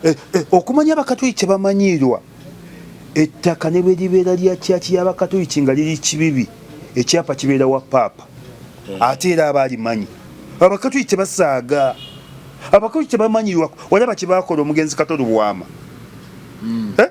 Eh, eh, okumanya abakatuliki kyebamanyiirwa ettaka ne bwe libeera lya kyaki y'abakatuliki nga liri kibibi ekyapa kibeera wa paapa hmm. ate era aba alimanyi abakatuliki tebasaaga abakatuliki tebamanyiirwa walaba kye baakola omugenzi katolubwama hmm. eh?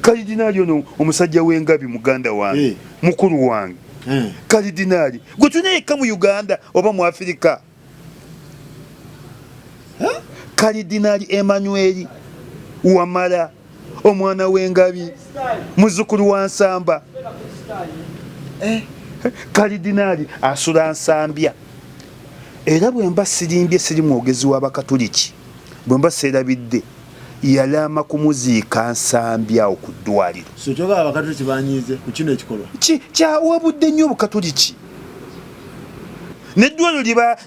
kalidinaali ono omusajja w'engabi muganda wange hey. Eh. mukulu wange hey. Eh. kalidinaali gwe tulina yekka mu uganda oba mu afirika huh? kalidinaali emanweri wamala omwana w'engabi muzukulu wa nsamba hey. Eh. kalidinaali asula nsambya era bwemba sirimbye siri mwogezi w'abakatuliki bwemba seerabidde yalaama kumuziika Nsambya awo ku ddwaliro. So kyogaba abakatuliki banyiize ku kino ekikolwa? Ki kyawabudde nnyo obukatuliki neddwaliro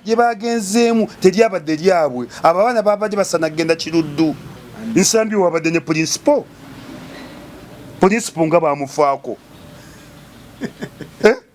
lye baagenzeemu teryabadde lyabwe. Abo abaana baabadde basana kugenda kiruddu. Nsambya wabadde ne pulinsipo, pulinsipo nga baamufaako eh?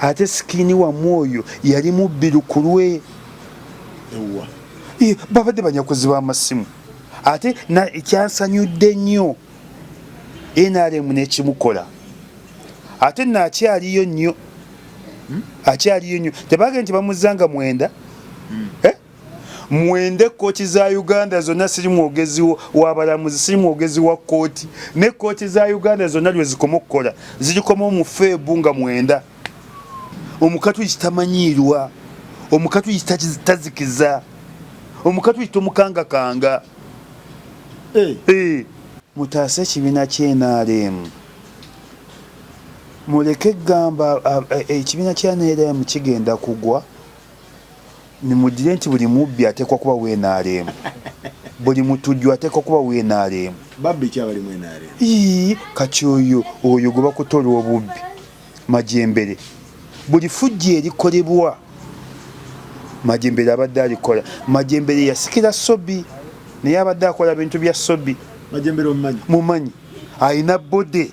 ate sikini wamwe oyo yali mubbi lukulwe babadde banyakuzi b'amasimu ate kyansanyudde nnyo nrm nekimukola ate naakyaliyo nnyo hmm? akyaliyo nnyo tebage nti bamuzanga mwenda hmm. eh? mwenda ekkooti za uganda zonna siri mwogezi wabalamuzi siri mwogezi wa kkooti nekkooti za uganda zonna lwezikoma okukola zirikoma omufeebu nga mwenda omukatuliki tamanyiirwa omukatuliki tazikiza omukatuliki tomukangakanga eh. Eh. mutaase ekibiina kyenaremu muleke gamba ekibiina kyanaremu kigenda kugwa Mimudire nti buli mubbi atekwa kuba we NRM. Buli mutujju atekwa kuba we NRM. Babbi ki abali mu NRM? Ii, kati oyo, oyo gwebakuta olwobubbi. Majembere. Buli fujjo erikolebwa, Majembere abadde alikola. Majembere yasikira Sobi, naye abadde akola bintu bya Sobi. Majembere omumanyi? Mumanyi. Alina body.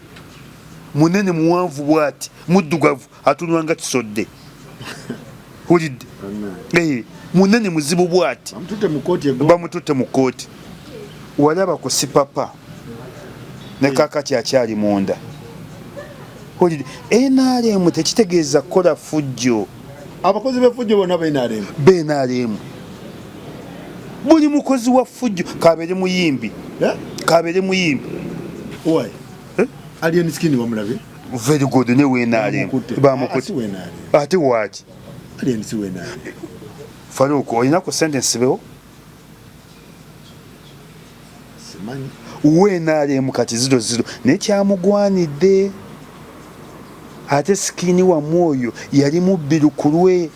Munene muwanvu bwati. Muddugavu. atunywa nga kisodde wulidde eh, munene muzibu bwati bamututte mu kkooti walaba ku sipapa ne kakati akyali munda wulidde nrm tekitegeeza kukola fujjo abakozi befujjo bona benrm benrm buli mukozi wa fujjo kabere muyimbi eh? kabere muyimbi eh? alien skin wamulabe very good ne wenaale bamukute ate waaki faruuk olina ku sentence bewo wenaaleemu kati ziro ziro naye kyamugwanidde ate sikini wamu oyo yali mubbi lukulwe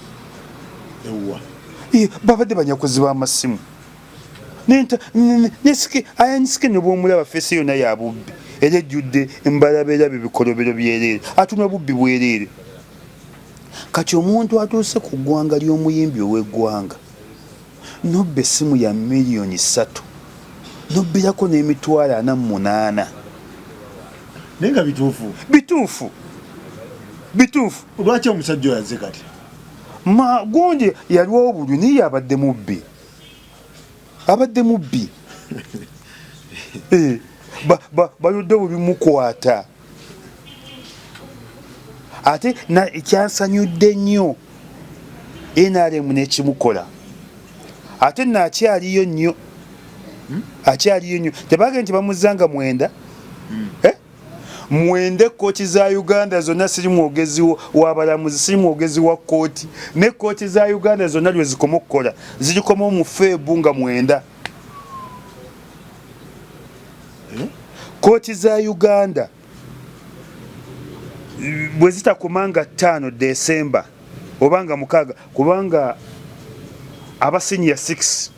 babadde banyakuzi b'amasimu ayanyiske nebwomulaba fesi yona yabubbi era ejjudde mbalabera bebikolobero byereere atuna bubbi bwereere kati omuntu atuuse ku ggwanga ly'omuyimbi ow'eggwanga nobba essimu ya miliyoni ssatu nobbirako n'emitwalo ana mu munaana naye nga bituufu bituufu bituufu lwaki omusajja oyaze kati magundi yaliwo obulwi naye yabadde mubbi abadde mubbi eh, bayodde bubimukwata ate kyansanyudde nnyo nrm nekimukola ate nakyaliyo nnyo hmm? akyaliyo nnyo tebage nti bamuzanga mwenda hmm. eh? mwenda ekkooti za uganda zonna siri mwogezi wabalamuzi siri mwogezi wa kkooti nekkooti za uganda zonna lwezikoma okukola zirikoma omufeebu nga mwenda eh? kkooti za uganda bwe zitakoma nga ttaano desemba oba nga mukaaga kubanga abasiniya 6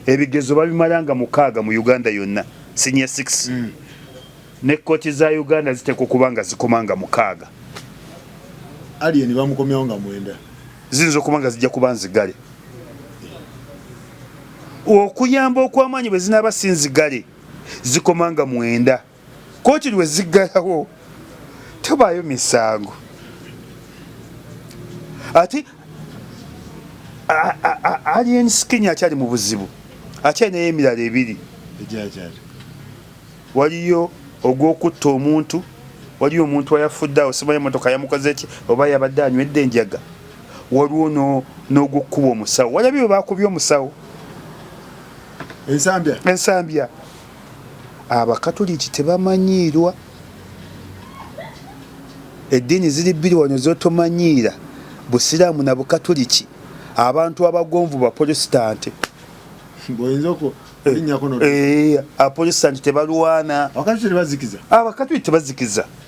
ebigezo babimala nga mukaaga mu uganda yonna senior 6 mm. ne kooti za uganda ziteekwa okuba nga zikoma nga mukaaga alien bamukomyawo nga mwenda ziyinza okuba nga zijja kuba nzigale okuyamba okwamaanyi bwe zinaaba si nzigale zikoma nga mwenda kkooti lwe ziggalawo tebaayo misango ate alien skin akyali mu buzibu akyalinayo emirala ebiri waliyo ogw'okutta omuntu waliyo omuntu ayafudde awo simanyi emotoka yamukoze ki oba yabadde anywedde enjaga waliwo n'ogw'okukuba omusawo walabye bwe bakubye omusawo ensambya Abakatuliki tebamanyiirwa. Eddiini ziri bbiri wano z'otomanyiira, Busiraamu na Bukatuliki. Abantu abagonvu Bapolositante. Eh, eh, Abapolositante tebalwana. Abakatuliki tebazikiza.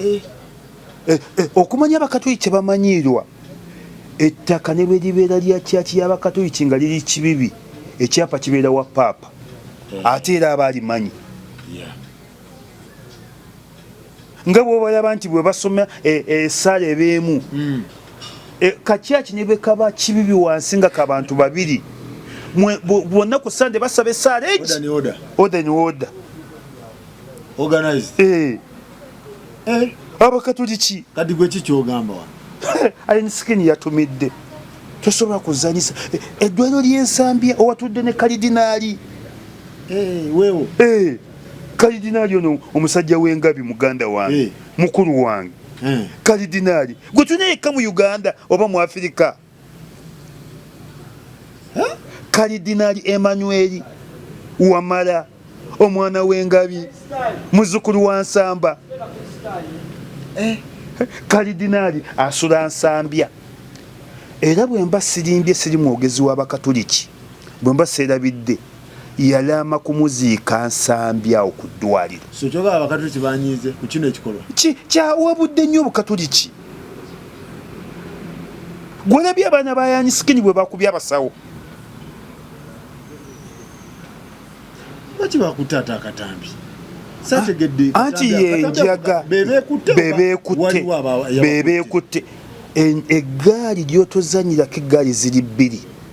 eh, eh, eh, okumanya abakatoliki kyebamanyiirwa ettaka ne bwe libeera lya kyaki y'abakatoliki nga liri kibibi ekyapa kibeera wa paapa eh. ate era aba alimanyi nga bwobalaba nti bwe basoma esaala e, ebeemu hmm. e, kakyaki ne bwe kaba kibibi wansi nga kabantu babiri bonna ku sande basaba esaala egi oda ni oda organized eh eh abakatuliki kadi gwe kikyogamba wa ayin skin yatumidde tosobola kuzanyisa eh, eddwaliro ly'ensambya owatudde ne kalidinaali eh, wewo eh, kalidinaali ono omusajja w'engabi muganda wange mukulu wange kalidinaali gwe tulina yekka mu uganda oba mu afirika kalidinali emanyweri wamala omwana w'engabi muzukulu wa nsamba eh, kalidinali asula nsambya era bwemba sirimbye siri mwogezi w'abakatuliki bwemba seerabidde yalaama kumuziika Nsambya awo ku ddwaliro. So kyogala abakatuliki banyiize ku kino ekikolwa? Ki kyawabudde nnyo obukatuliki. Gwolabye abaana ba Yanyi Sikini bwe bakubye abasawo. Lwaki bakutte ate akatambi? Sategedde. Ah, anti yenjaga bebekutte bebekutte eggaali ly'otozanyirako eggaali ziri bbiri.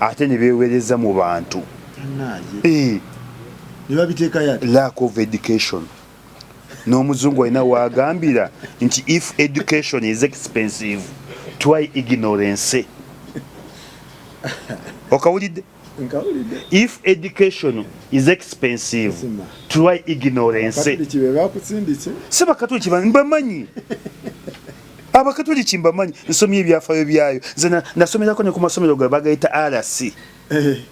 ate ne beewereza mu bantu eh. lack of education n'omuzungu alina waagambira nti if education is expensive try ignorance okawulidde if education is expensive try ignorance si bakatuliki bamanyi abakatoliki mbamanyi nsomye ebyafayo byayo nze nasomerako ne ku masomero gayo bagayita rc eh.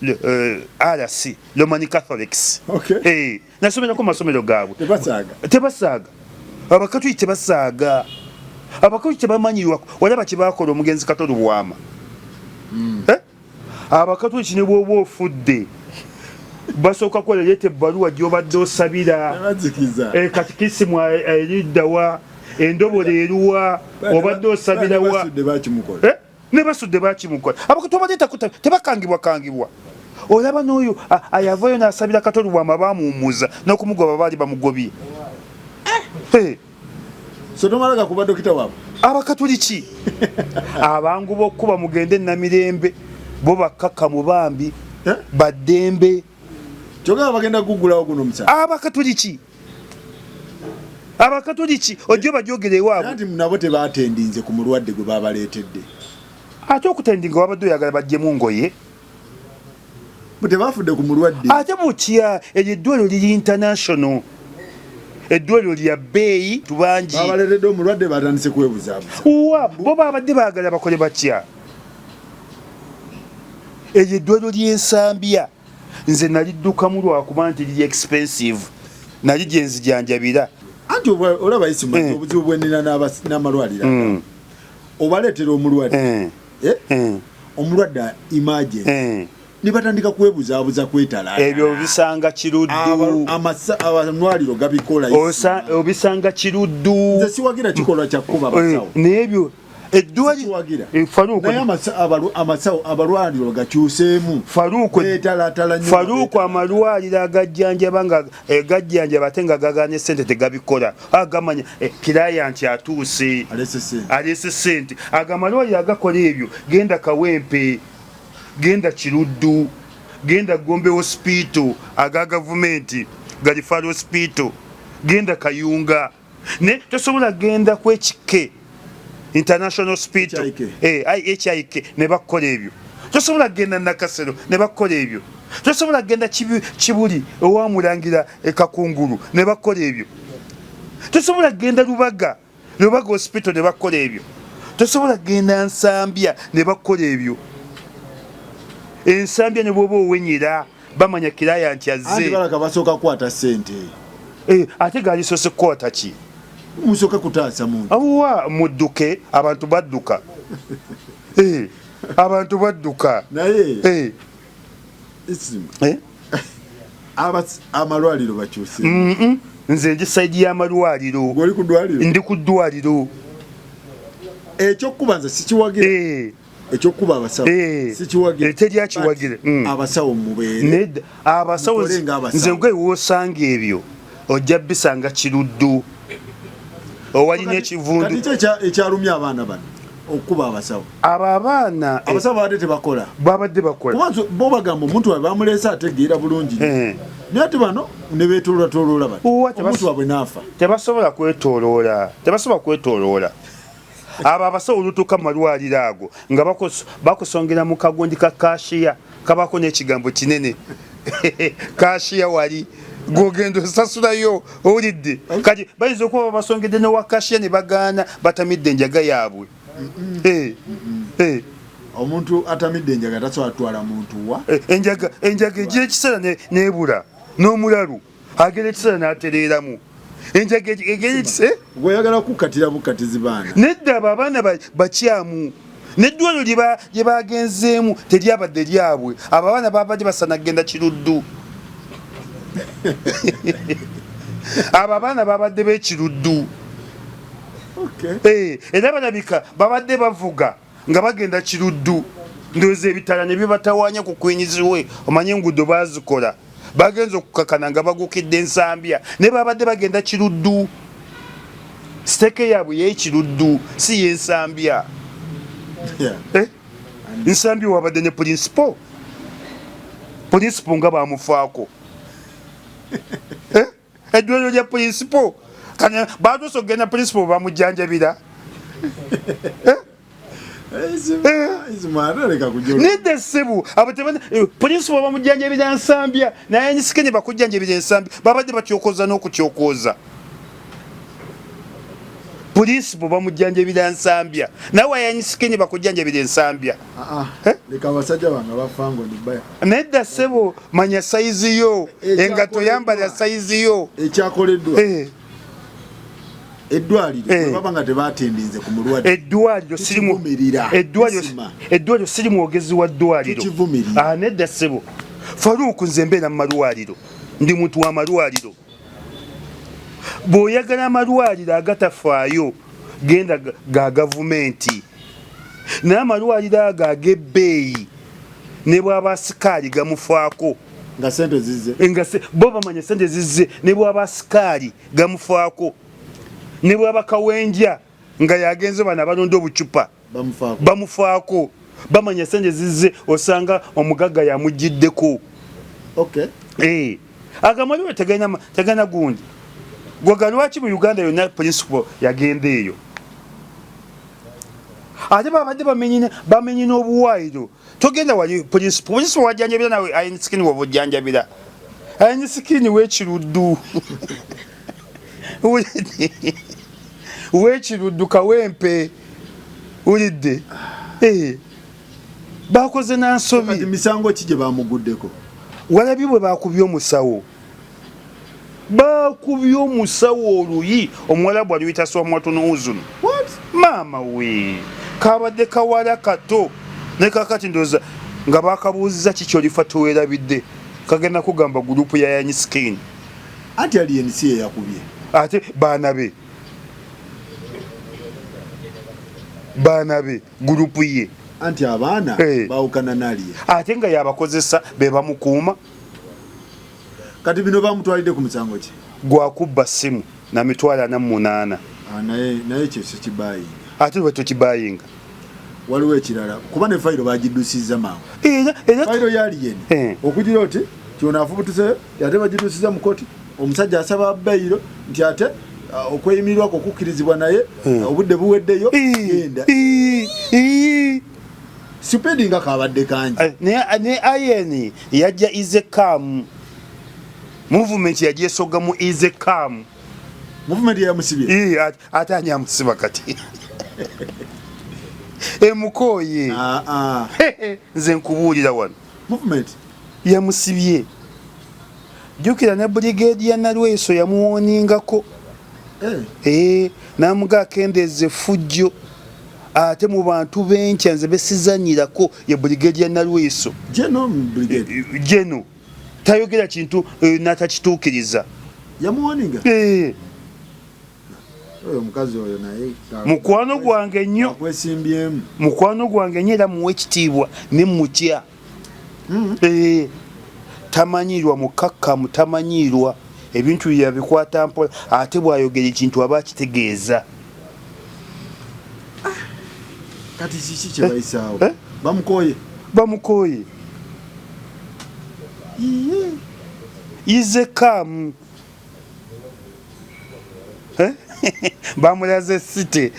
le, uh, eh, rc lomani catholics okay. hey, eh, nasomerako masomero gaabwe tebasaaga abakatoliki tebasaaga abakatoliki tebamanyirwa walaba kyebakola omugenzi katolubwama mm. eh? abakatuliki ne bwoba ofudde basooka kuwa leeta ebbaluwa gyobadde osabira eh, kati kisimu eriddawa eh, endobola eruwa obadde osabirawa eh, ne basudde bakimukola abakatu abaleeta tebakangibwa kangibwa olaba n'oyo ayavayo n'asabira katoli wama bamuwumuza n'okumugoba baali bamugobye sotomala gakuba dokita wabwe abakatuliki abangu bokuba mugende namirembe bo bakaka mubambi eh? badembe kyogera bagenda kugulawo guno musa abakatuliki abakatuliki ojjo bajogere ewaabwe nti nabo tebatendinze ku mulwadde gwe babaletedde ate okutendinga wabadde oyagala bajjemu ngoye tebafudde ku mulwadde ate mutya eryo eddwaliro liri international eddwaliro lya bbeeyi tubangi babaleredde omulwadde batandise kwebuzabuza wa bo babadde baagala bakole batya eryo eddwaliro ly'ensambya nze naliddukamu lwakuba nti liri expensive nali gyenzijanjabira anti olaba isimu eh. obuzibu bwenina n'amalwaliro hmm. obaleetera omulwadde eh. eh? mm. omulwadde imagine mm. nebatandika kwebuzabuza kwetala ebyo obisanga kiruddu amalwaliro gabikola obisanga kiruddu nze siwagira kikolwa kyakukuba eh, basawo nebyo eddwaliamasawo abalwaliro gakyuseemu faruuku amalwaliro agajjanjaba nga e gajjanjaba ate nga gagaanye sente tegabikola agamanya e, kilayanti atuuse aleese sente agamba liwa yagakola ebyo genda kawempe genda kiruddu genda gombe hospital aga gavumenti galifalo hospital genda kayunga ne tosobola genda ku ekike international hospital hik eh, ne bakukola ebyo tosobola genda nakasero ne bakukola ebyo tosobola genda kibuli owamulangira ekakungulu ne bakukola ebyo tosobola genda lubaga lubaga hospital ne bakukola ebyo tosobola genda nsambya ne bakukola ebyo ensambya ne bwoba owenyera bamanya kiraya nti azze balaka basooka kukwata sente eh, ate galisoose kukwata ki musooka kutaasa muntu awa mudduke abantu badduka eh, abantu badduka naye eh. amalwaliro bakyuse nze ndi saidi y'amalwaliro ndi ku ddwaliro ekyokubanza sikiwagira ekyokuba abasawo eh, sikiwagire eteri akiwagire mm. abasawo mubeere abasawo nze nkwe wosanga ebyo ojja bisanga kiruddu owalina ekivundu ekyalumya abaana bano okuba abasawo abo abaana eh, abasawo babadde tebakola babadde bakola kubanso bo bagamba omuntu wabe bamuleese ategeera bulungi eh. naye ati bano nebetololatolola bati omuntu wabwe naafa tebasobola kwetoloola tebasobola kwetoloola abo abasawo olutuuka mu malwaliro ago nga bakusongera mu kagundi ka kashiya kabako n'ekigambo kinene kashiya wali gwogenda osasulayo owulidde kati bayinza okuba babasongedde newa kashiya ne bagaana batamidde enjaga yaabwe eh, eh. omuntu atamidde enjaga tasobola kutwala muntu wa eh, enjaga enjaga egy'ekiseera nebula n'omulalu agera ekiseera n'atereeramu enjaga egera ekiseera gweyagala eh? kukatira bukatizi baana nedda abo abaana bakyamu neddwaliro lye bagenzeemu teryabadde lyabwe abo abaana babadde basana kugenda kiruddu abo abaana babadde bekiruddu eh, era balabika babadde bavuga nga bagenda kiruddu ndowooza ebitala ne bibatawaanya ku kwinyizibwe omanye enguudo baazikola bagenze okukakana nga bagukidde ensambya naye babadde bagenda kiruddu siteeka yaabwe yekiruddu si yensambya eh? nsambya wabadde ne pulinsipo pulinsipo nga bamufaako eh? eddwaliro lya principal kani batuusa okugenda principal bamujjanjabira eh? nedda essebu abo principal bamujjanjabira nsambya naye nyisike ne bakujjanjabira ensambya babadde batyokoza n'okutyokoza principal bamujjanjabira nsambya nawe ayanyisike ne bakujjanjabira ensambya Ah, ah. Eh? nedda sebo manya sayizi yo eh, engato yambala sayizi yo ekyakoleddwa eh. eddwaliro siri mwogezi wa ddwaliro ah, nedda sebo faruuku nze mbeera mu malwaliro ndi muntu wa malwaliro bw'oyagala amalwaliro agatafaayo genda ga gavumenti naye amalwaliro ago ag'ebbeeyi ne bwaba sikaali gamufaako nga sente zizze nga bo bamanya sente zizze ne bwaba sikaali gamufaako ne bwaba kawenja nga yagenze bano abalonda obucupa bamufaako bamanya sente zizze osanga omugagga yamuggiddeko okay. hey. Eh. agamaliwe tegana, tegana gundi gwaga lwaki mu uganda yonna principal yagenda eyo ate babadde bamenyi n'obuwaayiro togenda wali principal principal wajanjabira nawe ayin skin wo bujanjabira ayin skin we kiruddu we kiruddu kawempe ulidde eh bakoze na nsobi misango kije bamuguddeko walabi bwe bakubye omusawo bakubye omusawo oluyi omuwalabu aluyita swamwatunu uzunu maama we kabadde kawala kato ne kakati ndoza nga bakabuuzza kiki olifa tewerabidde kagenda kugamba gurupu yayanyi skin ati ali ensi yeyakubye ate baana be baana be gurupu ye anti abaana hey. Eh. bawukana naliye ate nga yabakozesa bebamukuuma kati bino bamutwalidde ku musango ki gwa kubba ssimu na mitwalo ana mu munaana ah, naye ekyo sikibayinga ate lwe tukibayinga waliwo ekirala kuba ne fayiro bagiddusizza mangu fayiro yaliyeni eh. okugira oti kyona afubutuse ate bagiddusizza mu koti omusajja asaba bayiro nti ate ah, okweyimirirwako okukkirizibwa naye eh. obudde buweddeyo genda Sipedi nga kabadde kangi. Eh, ne ne ayeni yajja ize kam. Movement yajja soga mu ize kam. Movement ya musibi. Eh at, atanya musiba kati. e mukoye. Ah ah. Nze nkubulira wan. Movement ya musibie. Jukira ne brigade ya Nalweso ya muoningako. eh. eh, namuga akendeeza effujjo ate mu bantu benkya nze besizanyirako ye brigade ya nalweso geno eh, tayogera kintu eh, natakituukiriza yamuwoninga eh. mukwano gwange nnyo mukwano gwange nnyo era muwa ekitiibwa ne mutya hmm. eh, tamanyiirwa mukakkamu tamanyiirwa ebintu bye yabikwata mpola ate bw'ayogera ekintu aba akitegeeza ah, kati kiki kye bayisaawo eh, eh? bamukooye bamukooye ize kamu eh? bamulaze site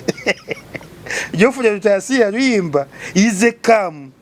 jofuna tutasiya luyimba ize kamu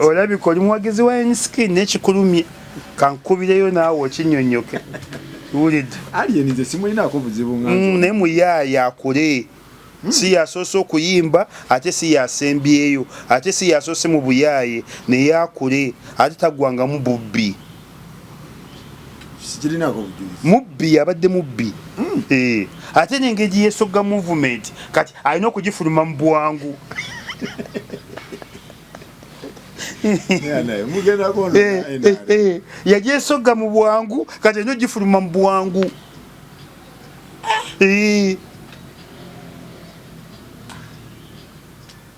olabika oli muwagizi wa nsiki nekikulumye kankubireyo naawe okinyonyoke wulidde mm, naye muyaaya akule hmm. si yasoose okuyimba ate si yasembyeyo ate si yasoose mu buyaaye naye akule ate tagwangamu bubbi mubbi abadde mubbi hmm. eh, ate nengeri yesoga movement kati alina okugifuluma mu bwangu eh, eh, yagyesoga mu bwangu kati alina ogifuluma mu bwangu ah.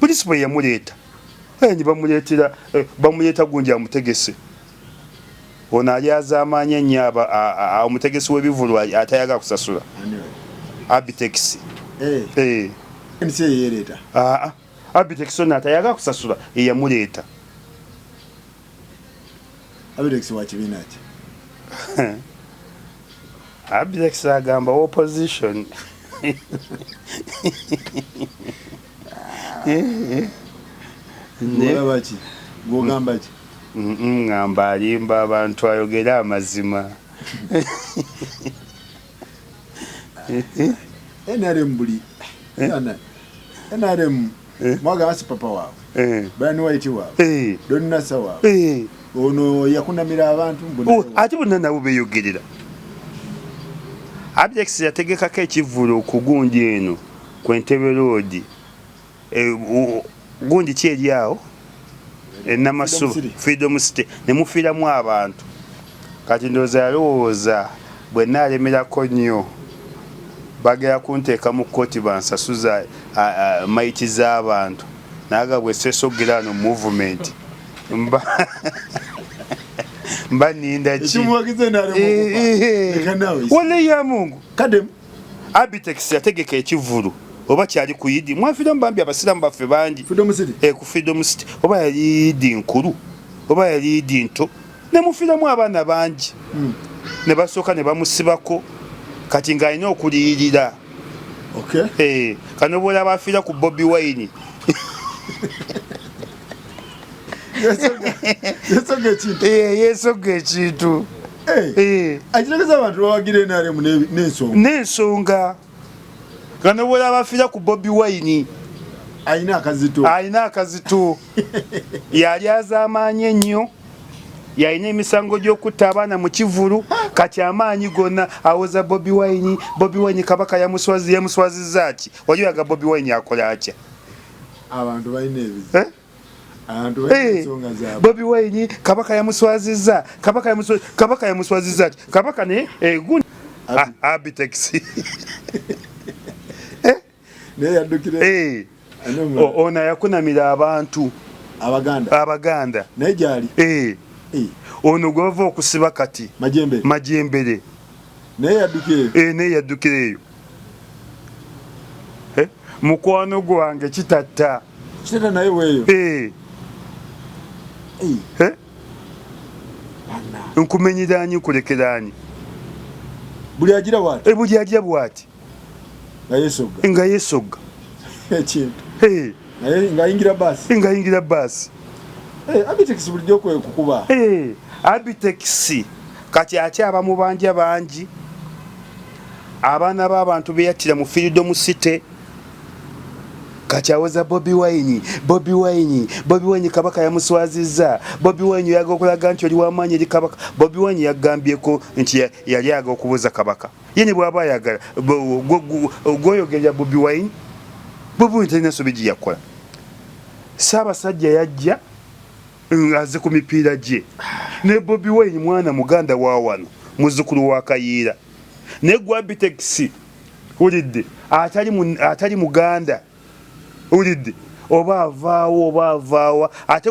principal yamuleeta eh, ne bamuleetera eh, bamuleeta gundi amutegese ono ali azaamaanya nnyo omutegesi w'ebivulu atayaga kusasula abitex eh. abitex ono atayaga kusasula eyamuleeta Abirex wa kibiina ki? Abirex agamba wa opposition. Ng'olaba ki? Ng'ogamba ki? Ng'amba alimba abantu ayogere amazima. NRM buli. NRM. Eh. mwaga basi papa waabwe eh. bani waiti waabwe eh. donasa waabwe ono yakunamira abantu oh, ate bonna nabo beyogerera abjex yategekako ekivvulu okugunja eno ku entebe roodi gundi ki eri awo enamasuba freedom city nemufiiramu abantu kati ndowooza yalowooza bwe naalemerako nnyo bagera kunteeka mu kkooti bansasuza mayiti z'abantu naga bwe sesogera ano movement mba mba ninda ki walayi ya mungu Abitex yategeka ekivvulu oba kyali ku idi mwafiramu bambi abasiraamu baffe bangi eh, ku freedom city oba yali idi nkulu oba yali idi nto nemufiramu abaana bangi hmm. ne basooka ne bamusibako kati ng'alina okuliyirira eh, kano bwolaba afiira ku bobi wine yesoga ekintu eh, Eh, eh. akitegeza abantu bawagira nrm nensonga nensonga ganobwera bafira ku bobi wine alina akazito alina akazito yali azamaanyi ennyo yalina emisango gy'okutta abaana mu kivulu kati amaanyi gonna awoza bobi wine bobi wine kabaka yamuswazi yamuswaziza ki wali oyaga bobi wine akola atya abantu balina ebizi eh? Eh, bobi wayini kabaka yamuswaziza kabaka yamuswaziza kabaka yamuswaziza ati kabaka ne egun eh, abitex ah, eh? naye yadukire eh ona yakunamira abantu abaganda abaganda naye jali eh ono gwava okusiba kati majembere majembere naye yadukire eh naye yadukire eyo eh, mukwano gwange kitatta kitata naye weeyo eh. eh. nkumenyeraani nkulekeraani buli agira bwati eh, buli agira bwati nga yesogga ekintu eh. ngayingira baasi ngayingira baasi abitex bulijjo kwekukuba abitex kati akyaba mubanja bangi abaana b'abantu beyattira mu freedom city kati awoza bobi wine bobi wine bobi wine kabaka yamuswazizza bobi wine yaga okulaga nti oli wamaanyi eri kabaka bobi wine yagambyeko nti yali aga okubuuza kabaka ye ne bwaba ayagala gwoyogerera bobi wine bobi wine talina sobi gye yakola saabasajja yajja ng'aze ku mipiira gye ne Bobi Wine mwana muganda wa wano muzzukulu wa Kayiira ne Gwabitex wulidde atali muganda wulidde oba avaawo oba avaawa ate